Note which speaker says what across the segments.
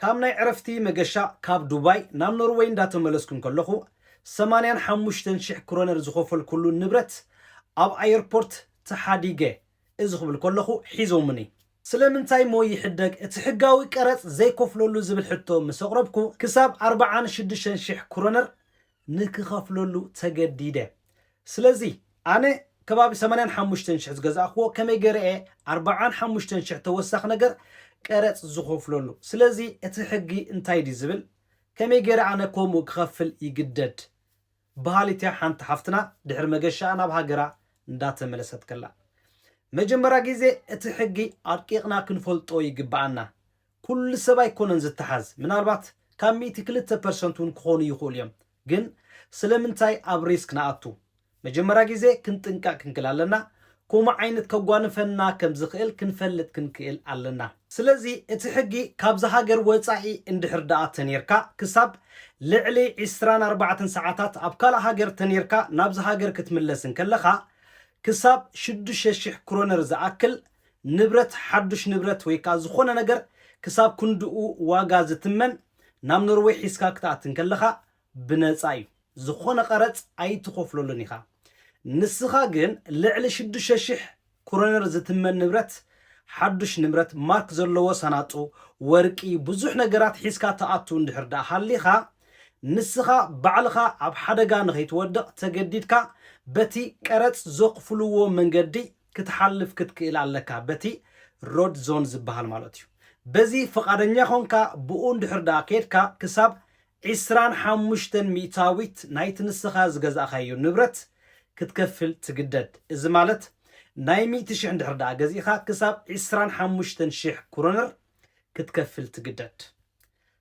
Speaker 1: ካብ ናይ ዕረፍቲ መገሻ ካብ ዱባይ ናብ ኖርወይ እንዳተመለስኩ እንከለኹ ሰማንያን ሓሙሽተን ሽሕ ክሮነር ዝኸፈልኩሉ ንብረት ኣብ ኣየርፖርት ተሓዲገ እዚ ክብል ከለኹ ሒዞሙኒ። ስለምንታይ'ሞ ይሕደግ እቲ ሕጋዊ ቀረጽ ዘይከፍለሉ ዝብል ሕቶ ምስ ኣቕረብኩ ክሳብ ኣርብዓን ሽዱሽተን ሽሕ ክሮነር ንክኸፍለሉ ተገዲደ። ስለዚ ኣነ ከባቢ ሰማንያን ሓሙሽተን ሽሕ ዝገዛእክዎ ከመይ ገረ እየ ኣርባዓን ሓሙሽተን ሽሕ ተወሳኺ ነገር ቀረጽ ዝኸፍለሉ? ስለዚ እቲ ሕጊ እንታይ ድዩ ዝብል? ከመይ ገረ ኣነ ከምኡ ክኸፍል ይግደድ? በሃሊት'ያ ሓንቲ ሓፍትና ድሕሪ መገሻኣ ናብ ሃገራ እንዳተመለሰት ከላ። መጀመርያ ግዜ እቲ ሕጊ ኣርቂቕና ክንፈልጦ ይግበኣና። ኩሉ ሰብ ኣይኮነን ዝተሓዝ ምናልባት ካብ ሚእቲ ክልተ ፐርሰንት ውን ክኾኑ ይኽእሉ እዮም ግን ስለምንታይ ኣብ ሪስክ ንኣቱ መጀመርያ ግዜ ክንጥንቀቅ ክንክል ኣለና ኮሙ ዓይነት ከጓንፈና ከም ዝኽእል ክንፈልጥ ክንክእል ኣለና ስለዚ እቲ ሕጊ ካብዚ ሃገር ወጻኢ እንድሕር ድኣ ተኔርካ ክሳብ ልዕሊ ዕስራን ኣርባዕተን ሰዓታት ኣብ ካልእ ሃገር ተኔርካ ናብዚ ሃገር ክትምለስ እንከለኻ ክሳብ ሽዱሽተ ሽሕ ክሮነር ዝኣክል ንብረት ሓዱሽ ንብረት ወይ ከኣ ዝኾነ ነገር ክሳብ ክንድኡ ዋጋ ዝትመን ናብ ኖርወይ ሒዝካ ክትኣቲ እንከለኻ ብነጻ እዩ። ዝኾነ ቀረጽ ኣይትኸፍለሉን ኢኻ። ንስኻ ግን ልዕሊ ሽዱሽተ ሽሕ ክሮነር ዝትመን ንብረት፣ ሓዱሽ ንብረት፣ ማርክ ዘለዎ ሳናጡ፣ ወርቂ፣ ብዙሕ ነገራት ሒዝካ ትኣቱ እንድሕር ደኣ ሃሊኻ፣ ንስኻ ባዕልኻ ኣብ ሓደጋ ንኸይትወድቕ ተገዲድካ በቲ ቀረጽ ዘኽፍልዎ መንገዲ ክትሓልፍ ክትክእል ኣለካ በቲ ሮድ ዞን ዝበሃል ማለት እዩ በዚ ፍቃደኛ ኮንካ ብኡ እንድሕር ደኣ ከድካ ክሳብ ዕስራን ሓሙሽተን ሚእታዊት ናይቲ ንስኻ ዝገዛእካዮ ንብረት ክትከፍል ትግደድ እዚ ማለት ናይ ሚእቲ ሽሕ እንድሕር ደኣ ገዚእኻ ክሳብ ዕስራን ሓሙሽተን ሽሕ ክሮነር ክትከፍል ትግደድ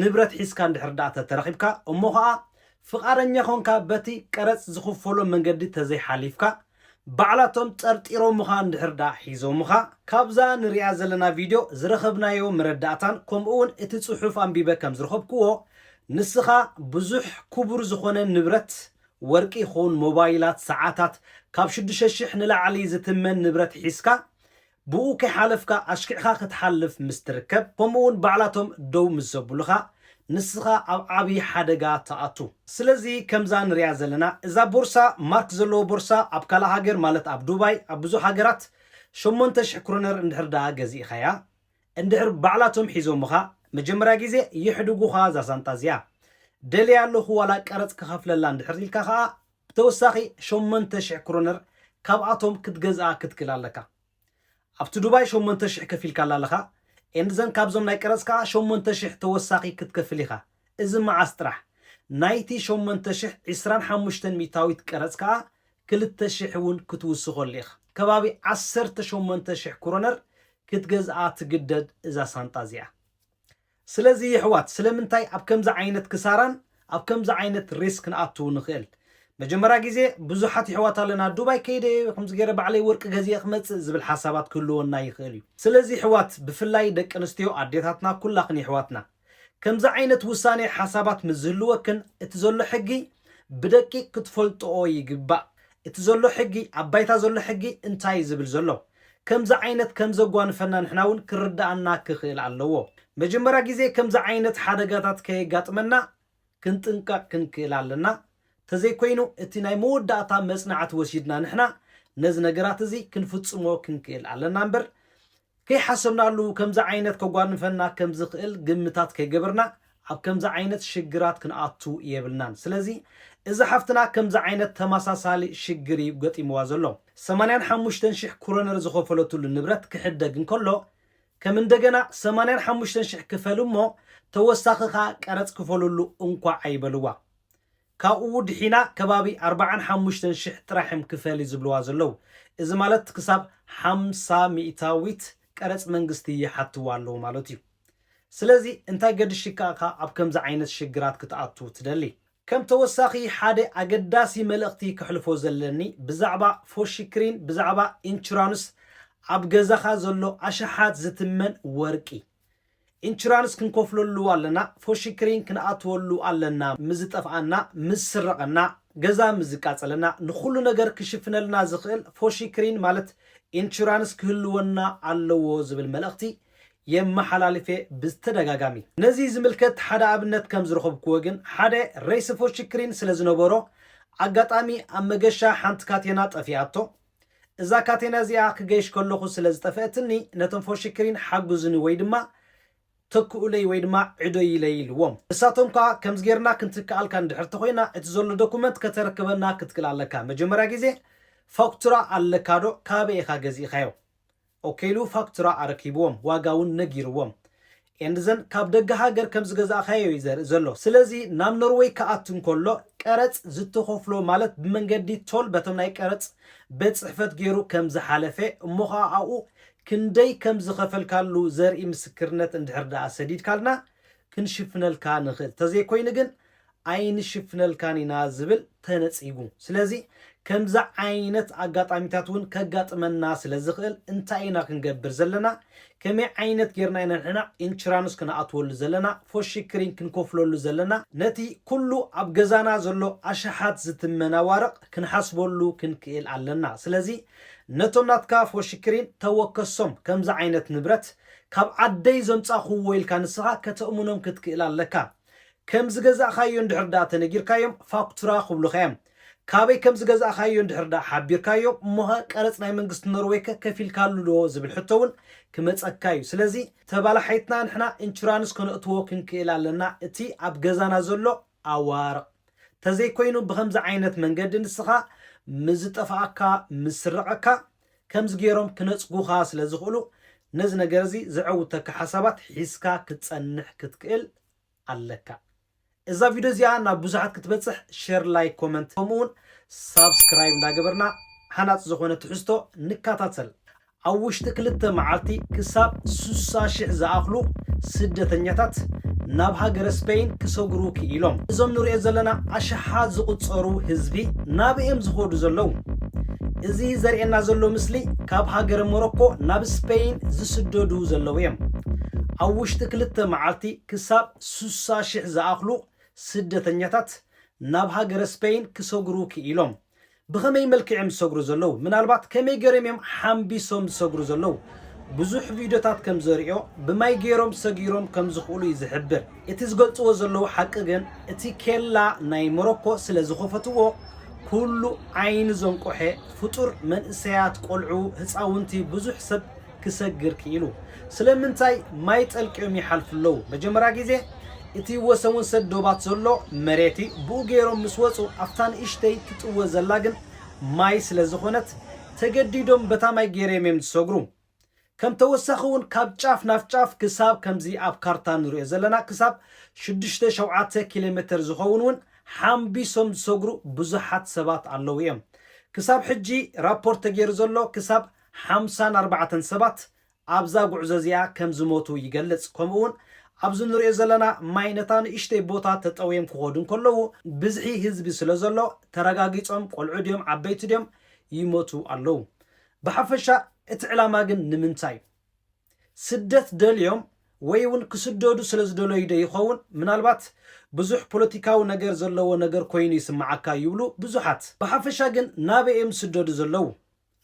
Speaker 1: ንብረት ሒዝካ እንድሕር ደኣ ተተረኺብካ እሞ ኸኣ ፍቓደኛ ኾንካ በቲ ቀረጽ ዝኽፈሎ መንገዲ ተዘይሓሊፍካ ባዕላቶም ጠርጢሮምኻ እንድሕር ደኣ ሒዞምኻ። ካብዛ ንርእያ ዘለና ቪድዮ ዝረኸብናዮ መረዳእታን ከምኡ'ውን እቲ ጽሑፍ ኣንቢበ ከም ዝረኸብክዎ ንስኻ ብዙሕ ክቡር ዝኾነ ንብረት ወርቂ ይኹን ሞባይላት ሰዓታት ካብ ሽዱሽተ ሽሕ ንላዕሊ ዝትመን ንብረት ሒዝካ ብኡ ከይሓለፍካ ኣሽኪዕካ ክትሓልፍ ምስ ትርከብ ከምኡውን ባዕላቶም ደው ምስ ዘብሉኻ ንስኻ ኣብ ዓቢ ሓደጋ ትኣቱ። ስለዚ ከምዛ ንሪኣ ዘለና እዛ ቦርሳ ማርክ ዘለዎ ቦርሳ ኣብ ካልእ ሃገር ማለት ኣብ ዱባይ ኣብ ብዙሕ ሃገራት ሸሞንተ ሽሕ ክሮነር እንድሕር ደኣ ገዚእኻያ እንድሕር ባዕላቶም ሒዞምኻ መጀመርያ ግዜ የሕድጉኻ እዛ ሳንጣ እዚኣ ደልያ ኣለኹ ዋላ ቀረጽ ክኸፍለላ እንድሕር ኢልካ ከኣ ብተወሳኺ ሸሞንተ ሽሕ ክሮነር ካብኣቶም ክትገዝኣ ክትክል ኣለካ። ኣብቲ ዱባይ ሸሞንተ ሽሕ ከፊልካላ ኣለኻ and then ካብዞም ናይ ቀረጽ ከኣ ሸሞንተ ሽሕ ተወሳኺ ክትከፍል ኢኻ። እዚ መዓስ ጥራሕ? ናይቲ ሸሞንተ ሽሕ ዕስራን ሓሙሽተን ሚታዊት ቀረጽ ከኣ ክልተ ሽሕ እውን ክትውስኸሉ ኢኻ። ከባቢ ዓሰርተ ሸሞንተ ሽሕ ክሮነር ክትገዝኣ ትግደድ እዛ ሳንጣ እዚኣ። ስለዚ የሕዋት ስለምንታይ ኣብ ከምዚ ዓይነት ክሳራን ኣብ ከምዚ ዓይነት ሪስክ ክንኣቱ ንክእል መጀመርያ ግዜ ብዙሓት የሕዋት ኣለና ዱባይ ከይደ ከምዚ ገይረ ባዕለይ ወርቂ ገዚኤ ክመጽእ ዝብል ሓሳባት ክህልወና ይክእል እዩ ስለዚ የሕዋት ብፍላይ ደቂ ኣንስትዮ ኣዴታትና ኩላክን የሕዋትና ከምዚ ዓይነት ውሳኔ ሓሳባት ምስ ዝህልወክን እቲ ዘሎ ሕጊ ብደቂቅ ክትፈልጥኦ ይግባእ እቲ ዘሎ ሕጊ ኣብ ባይታ ዘሎ ሕጊ እንታይ እዩ ዝብል ዘሎ ከምዚ ዓይነት ከም ዘጓንፈና ንሕና ውን ክርደኣና ክኽእል ኣለዎ መጀመርያ ግዜ ከምዚ ዓይነት ሓደጋታት ከየጋጥመና ክንጥንቀቅ ክንክእል ኣለና ተዘይኮይኑ እቲ ናይ መወዳእታ መጽናዕቲ ወሲድና ንሕና ነዚ ነገራት እዚ ክንፍጽሞ ክንክእል ኣለና እምበር ከይሓሰብናሉ ከምዚ ዓይነት ከጓንፈና ከም ዝኽእል ግምታት ከይገበርና ኣብ ከምዚ ዓይነት ሽግራት ክንኣቱ የብልናን ስለዚ እዛ ሓፍትና ከምዚ ዓይነት ተማሳሳሊ ሽግር እዩ ገጢምዋ ዘሎ ሰማንያን ሓሙሽተን ሽሕ ኩሮነር ዝኸፈለትሉ ንብረት ክሕደግ እንከሎ ከም እንደገና ሰማንያን ሓሙሽተን ሽሕ ክፈል እሞ ተወሳኺ ከኣ ቀረጽ ክፈልሉ እንኳዕ ኣይበልዋ ካብኡ ድሒና ከባቢ ኣርባዓን ሓሙሽተን ሽሕ ጥራሕ እዮም ክፈሊ ዝብልዋ ዘለው። እዚ ማለት ክሳብ ሓምሳ ሚእታዊት ቀረጽ መንግስቲ ይሓትዋ ኣለው ማለት እዩ። ስለዚ እንታይ ገድሽካ እኻ ኣብ ከምዚ ዓይነት ሽግራት ክትኣቱ ትደሊ? ከም ተወሳኺ ሓደ ኣገዳሲ መልእኽቲ ከሕልፎ ዘለኒ ብዛዕባ ፎሽክሪን ብዛዕባ ኢንቹራንስ ኣብ ገዛኻ ዘሎ ኣሽሓት ዝትመን ወርቂ፣ ኢንቹራንስ ክንከፍለሉ ኣለና፣ ፎሽክሪን ክንኣትወሉ ኣለና፣ ምስ ዝጠፍኣና፣ ምስ ዝስረቐና፣ ገዛ ምስ ዝቃፀለና፣ ንኹሉ ነገር ክሽፍነልና ዝኽእል ፎሽክሪን ማለት ኢንቹራንስ ክህልወና ኣለዎ ዝብል መልእኽቲ የመሓላልፍ'የ ብዝተደጋጋሚ። ነዚ ዝምልከት ሓደ ኣብነት ከም ዝረኸብኩዎ ግን፣ ሓደ ሬስ ፎሽክሪን ስለ ዝነበሮ፣ ኣጋጣሚ ኣብ መገሻ ሓንቲ ካቴና ጠፊኣቶ፣ እዛ ካቴና እዚኣ ክገይሽ ከለኹ ስለ ዝጠፈኣትኒ ነቶም ፎሽክሪን ሓጉዙኒ ወይ ድማ ተክኡለይ ወይ ድማ ዕዶይለይ ኢልዎም። ንሳቶም ከኣ ከምዚ ጌርና ክንትክኣልካ እንድሕር ተኾይና እቲ ዘሎ ዶኩመንት ከተረክበና ክትክል ኣለካ። መጀመርያ ግዜ ፋኩቱራ ኣለካዶ ካበይ ኢኻ ገዚእኻዮ? ኦኬሉ ፋክቱራ ኣረኪብዎም ዋጋ ውን ነጊርዎም ኤንድዘን ካብ ደገ ሃገር ከም ዝገዛእካዮ ዩ ዘርኢ ዘሎ ስለዚ ናብ ኖርወይ ክኣቱ እንከሎ ቀረጽ ዝተኸፍሎ ማለት ብመንገዲ ቶል በቶም ናይ ቀረጽ ቤት ጽሕፈት ጌሩ ከም ዝሓለፈ እሞ ኸኣ ኣብኡ ክንደይ ከም ዝኸፈልካሉ ዘርኢ ምስክርነት እንድሕር ደኣ ሰዲድካልና ክንሽፍነልካ ንኽእል ተዘይኮይኑ ግን ኣይንሽፍነልካን ኢና ዝብል ተነጺጉ። ስለዚ ከምዚ ዓይነት ኣጋጣሚታት እውን ከጋጥመና ስለ ዝኽእል እንታይ ኢና ክንገብር ዘለና፣ ከመይ ዓይነት ጌርና ኢና ንሕና ኢንቹራንስ ክንኣትወሉ ዘለና፣ ፎሽክሪን ክንከፍለሉ ዘለና፣ ነቲ ኩሉ ኣብ ገዛና ዘሎ ኣሽሓት ዝትመን ኣዋርቕ ክንሓስበሉ ክንክእል ኣለና። ስለዚ ነቶም ናትካ ፎሽክሪን ተወከሶም፣ ከምዚ ዓይነት ንብረት ካብ ዓደይ ዘምጻእኩዎ ኢልካ ንስኻ ከተእምኖም ክትክእል ኣለካ። ከም ዝገዛእካዮ እንድሕር ደኣ ተነጊርካዮም ፋክቱራ ክብሉኻ እዮም። ካበይ ከም ዝገዛእካዮ እንድሕር ደኣ ሓቢርካዮ እሞኸ ቀረጽ ናይ መንግስቲ ኖርወይከ ከፊልካሉ ዶ ዝብል ሕቶ እውን ክመጸካ እዩ። ስለዚ ተባላሓይትና ንሕና ኢንቹራንስ ከነእትዎ ክንክእል ኣለና እቲ ኣብ ገዛና ዘሎ ኣዋርቕ። ተዘይኮይኑ ብኸምዚ ዓይነት መንገዲ ንስኻ ምስ ዝጠፍኣካ፣ ምስ ስረቐካ፣ ከምዚ ገይሮም ክነጽጉኻ ስለ ዝኽእሉ ነዚ ነገር እዚ ዘዐውተካ ሓሳባት ሒዝካ ክትጸንሕ ክትክእል ኣለካ። እዛ ቪድዮ እዚኣ ናብ ብዙሓት ክትበጽሕ ሼር ላይክ ኮመንት ከምኡ እውን ሳብስክራይብ እንዳገበርና ሃናጺ ዝኾነ ትሕዝቶ ንከታተል። ኣብ ውሽጢ ክልተ መዓልቲ ክሳብ ስሳ ሽሕ ዝኣኽሉ ስደተኛታት ናብ ሃገረ ስፐይን ክሰግሩ ክኢሎም። እዞም ንሪኦ ዘለና ኣሽሓት ዝቑጸሩ ህዝቢ ናበይ እዮም ዝኸዱ ዘለዉ? እዚ ዘርእየና ዘሎ ምስሊ ካብ ሃገረ ሞሮኮ ናብ ስፐይን ዝስደዱ ዘለዉ እዮም። ኣብ ውሽጢ ክልተ መዓልቲ ክሳብ ስሳ ሽሕ ዝኣኽሉ ስደተኛታት ናብ ሃገረ ስፐይን ክሰግሩ ክኢሎም። ብኸመይ መልክዕ እዮም ዝሰግሩ ዘለዉ? ምናልባት ከመይ ገይሮም እዮም ሓምቢሶም ዝሰግሩ ዘለዉ? ብዙሕ ቪድዮታት ከም ዘርእዮ ብማይ ገይሮም ሰጊሮም ከም ዝኽእሉ እዩ ዝሕብር። እቲ ዝገልጽዎ ዘለዉ ሓቂ ግን እቲ ኬላ ናይ ሞሮኮ ስለ ዝኸፈትዎ ኩሉ ዓይኒ ዘንቆሐ ፍጡር መንእሰያት ቆልዑ ህጻውንቲ ብዙሕ ሰብ ክሰግር ክኢሉ። ስለምንታይ ማይ ጠልቅዮም ይሓልፉ ኣለዉ። መጀመርያ ግዜ እቲ ወሰንወሰን ዶባት ዘሎ መሬት እዩ ብኡ ገይሮም ምስ ወጹ ኣብታ ንእሽተይ ትጥወ ዘላ ግን ማይ ስለ ዝኾነት ተገዲዶም በታ ማይ ገይረም እዮም ዝሰግሩ። ከም ተወሳኺ እውን ካብ ጫፍ ናብ ጫፍ ክሳብ ከምዚ ኣብ ካርታ ንሪኦ ዘለና ክሳብ ሽዱሽተ ሸውዓተ ኪሎሜተር ዝኸውን እውን ሓምቢሶም ዝሰግሩ ብዙሓት ሰባት ኣለዉ እዮም። ክሳብ ሕጂ ራፖርት ተገይሩ ዘሎ ክሳብ ሓምሳን ኣርባዕተን ሰባት ኣብዛ ጉዕዞ እዚኣ ከም ዝሞቱ ይገልጽ። ከምኡ እውን ኣብዚ ንሪኦ ዘለና ማይ ነታ ንእሽተይ ቦታ ተጠውዮም ክኸዱ እንከለዉ ብዝሒ ህዝቢ ስለ ዘሎ ተረጋጊጾም ቆልዑ ድዮም ዓበይቲ ድዮም ይሞቱ ኣለዉ። ብሓፈሻ እቲ ዕላማ ግን ንምንታይ? ስደት ደልዮም ወይ እውን ክስደዱ ስለ ዝደለዩ ዶ ይኸውን? ምናልባት ብዙሕ ፖለቲካዊ ነገር ዘለዎ ነገር ኮይኑ ይስምዓካ ይብሉ ብዙሓት። ብሓፈሻ ግን ናበይ እዮም ዝስደዱ ዘለዉ?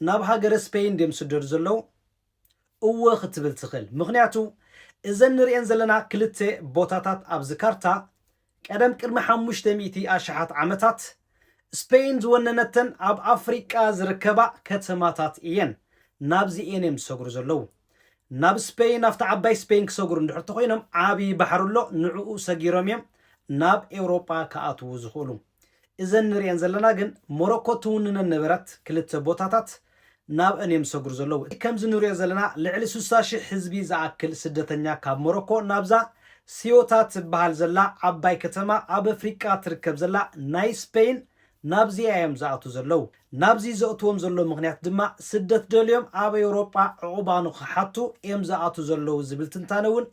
Speaker 1: ናብ ሃገረ ስፔይን ድዮም ዝስደዱ ዘለዉ? እወ ክትብል ትኽእል። ምኽንያቱ እዘን ንርእየን ዘለና ክልተ ቦታታት ኣብዚ ካርታ ቀደም ቅድሚ ሓሙሽተ ሚእቲ ኣሽሓት ዓመታት ስፐይን ዝወነነተን ኣብ ኣፍሪቃ ዝርከባ ከተማታት እየን። ናብዚ እየን እዮም ዝሰግሩ ዘለዉ። ናብ ስፐይን ናብታ ዓባይ ስፐይን ክሰግሩ እንድሕር ተኾይኖም ዓብዪ ባሕሪ ኣሎ ንዕኡ ሰጊሮም እዮም ናብ ኤውሮጳ ክኣትዉ ዝኽእሉ። እዘን ንርእየን ዘለና ግን ሞሮኮ ትውንነን ነበረት ክልተ ቦታታት ናብ'ን እዮም ዝሰግሩ ዘለዉ። እቲ ከምዚ ንሪኦ ዘለና ልዕሊ ስሳ ሽሕ ህዝቢ ዝኣክል ስደተኛ ካብ ሞሮኮ ናብዛ ሲዮታ ትበሃል ዘላ ዓባይ ከተማ ኣብ ኣፍሪቃ ትርከብ ዘላ ናይ ስፐይን ናብዚኣ እዮም ዝኣትዉ ዘለዉ። ናብዚ ዘእትዎም ዘሎ ምኽንያት ድማ ስደት ደልዮም ኣብ ኤውሮጳ ዕቑባ ንኽሓቱ እዮም ዝኣትዉ ዘለዉ ዝብል ትንታነ እውን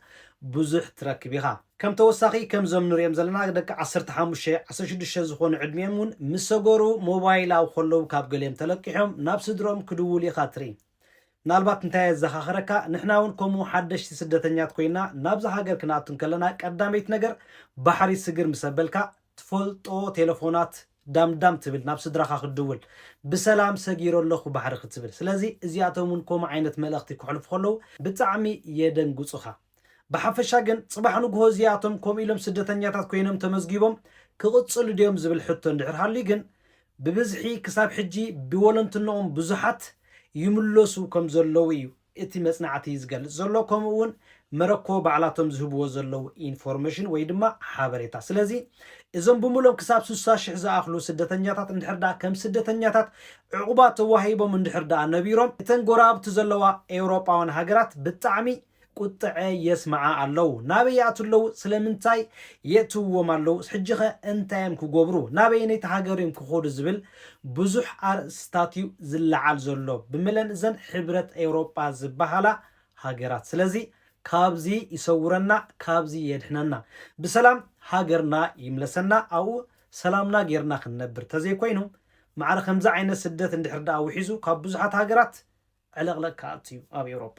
Speaker 1: ብዙሕ ትረክብ ኢኻ። ከም ተወሳኺ ከምዞም ንሪኦም ዘለና ደቂ ዓሰርተ ሓሙሽተ፣ ዓሰርተ ሽዱሽተ ዝኾኑ ዕድሚኦም እውን ምስ ሰገሩ ሞባይል ኣብ ከለዉ ካብ ገሊኦም ተለቂሖም ናብ ስድርኦም ክድውሉ ኢኻ ትርኢ። ምናልባት እንታይ የዘኻኽረካ ንሕና እውን ከምኡ ሓደሽቲ ስደተኛት ኮይና ናብዚ ሃገር ክንኣቱ እንከለና ቀዳመይቲ ነገር ባሕሪ ስግር ምስ ኣበልካ ትፈልጦ ቴለፎናት ዳምዳም ትብል ናብ ስድራኻ ክትድውል ብሰላም ሰጊረ ኣለኹ ባሕሪ ክትብል ስለዚ እዚኣቶም እውን ከምኡ ዓይነት መልእኽቲ ከሕልፉ ከለዉ ብጣዕሚ የደንግጹኻ። ብሓፈሻ ግን ጽባሕ ንግሆ እዚኣቶም ከምኡ ኢሎም ስደተኛታት ኮይኖም ተመዝጊቦም ክቕጽሉ ድዮም ዝብል ሕቶ እንድሕር ሃልዩ ግን ብብዝሒ ክሳብ ሕጂ ብወለንትንኦም ብዙሓት ይምለሱ ከም ዘለዉ እዩ እቲ መጽናዕቲ ዝገልጽ ዘሎ ከምኡ እውን መረኮ ባዕላቶም ዝህብዎ ዘለዉ ኢንፎርሜሽን ወይ ድማ ሓበሬታ ስለዚ እዞም ብምሎም ክሳብ ስሳ ሽሕ ዝኣኽሉ ስደተኛታት እንድሕር ደኣ ከም ስደተኛታት ዕቑባ ተዋሂቦም እንድሕር ደኣ ነቢሮም እተን ጎረባብቲ ዘለዋ ኤውሮጳውያን ሃገራት ብጣዕሚ ቁጥዐ የስምዓ ኣለው ናበይ ይኣትው ኣለው ስለምንታይ የእትውዎም ኣለው ሕጂኸ እንታይ እዮም ክጎብሩ ናበየነይቲ ሃገር እዮም ክኾዱ ዝብል ብዙሕ ኣርእስታት እዩ ዝለዓል ዘሎ ብምለን እዘን ሕብረት ኤውሮጳ ዝባሃላ ሃገራት ስለዚ ካብዚ ይሰውረና ካብዚ የድሕነና ብሰላም ሃገርና ይምለሰና ኣብኡ ሰላምና ጌርና ክንነብር ተዘይኮይኑ ማዕረ ከምዚ ዓይነት ስደት እንድሕር ድኣ ውሒዙ ካብ ብዙሓት ሃገራት ዕለቕለቕ ክኣቱ እዩ ኣብ ኤውሮጳ።